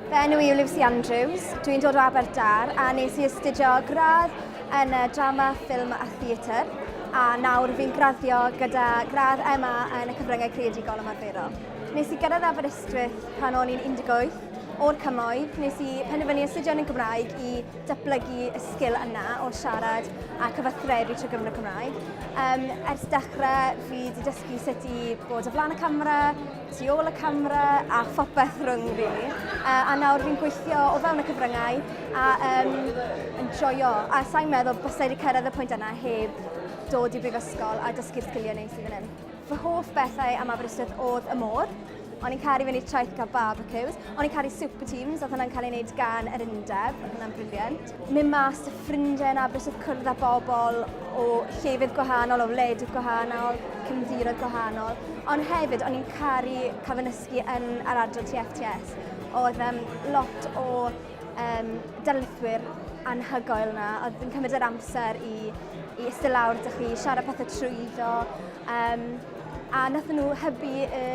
Fy enw i yw Lucy Andrews, dwi'n dod o Aberdâr a nes i astudio gradd yn y drama, ffilm a theatr a nawr fi'n graddio gyda gradd MA yn y cyfryngau creadigol ymarferol. Nes i gyrraedd Aberystwyth pan o'n i'n 18 o'r cymoedd, nes i penderfynu astudio yn y Gymraeg i datblygu y sgil yna o siarad a cyfathrebu trwy gyfrwng y Cymraeg. Um, ers dechrau, fi wedi dysgu sut i bod o flaen y camera, tu ôl y camera a phopeth rhwng fi. Uh, a nawr fi'n gweithio o fewn y cyfryngau a um, yn joio. A sa'n meddwl bysau wedi cyrraedd y pwynt yna heb dod i brifysgol a dysgu'r sgiliau neis i fan hyn. Fy hoff bethau am Aberystwyth oedd y môr. O'n i'n caru fyny'r traeth cael barbecues. O'n i'n caru super teams, oedd hwnna'n cael ei wneud gan yr undeb. Oedd hwnna'n briliant. Mynd mas y ffrindiau yn Aberystwyth, cwrdd â bobl o llefydd gwahanol, o wledydd gwahanol, cymddiroedd gwahanol. Ond hefyd, o'n i'n caru cael fy nysgu yn yr adran TFTS. Oedd um, lot o um, darlithwyr anhygoel yna, oedd yn cymryd yr amser i, i ystod lawr dych chi, siarad pethau trwyddo, um, a nath nhw hybu y,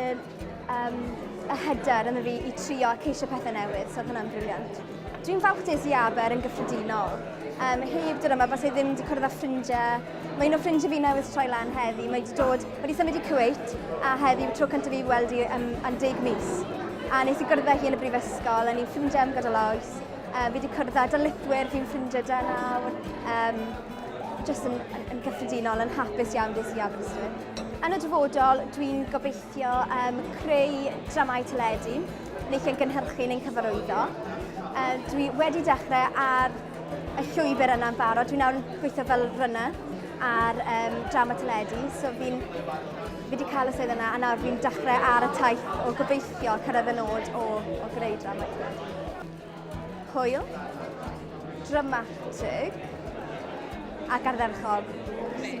um, y hyder yn y fi i trio a ceisio pethau newydd, so oedd hwnna'n briliant. Dwi'n falch des i aber yn gyffredinol. Um, heb dod yma, fas i ddim wedi cwrdd â ffrindiau. Mae un o ffrindiau fi newydd troi lan heddi. Mae wedi dod Wedi symud i Kuwait a heddi yw tro cyntaf fi weld hi am, am deg mis. A nes i gwrdd â hi yn y brifysgol, a ni'n ffrindiau am gydol oes. Uh, fi wedi cwrdd â darlithwyr, fi'n ffrindiau da nawr. Um, just yn, yn, yn gyffredinol, yn hapus iawn des i Aberystwyth. Yn y dyfodol, dwi'n gobeithio um, creu dramau teledu, neu chi'n gynhyrchu neu'n cyfarwyddo. Uh, dwi wedi dechrau ar y llwybr yna'n barod. Dwi nawr yn gweithio fel runner ar um, drama teledu, so fi'n fi wedi cael y swydd yna a nawr fi'n dechrau ar y taith o gobeithio cyrraedd y nod o, o greu drama teledu. Hwyl, dramatig a gardderchog. Sy'n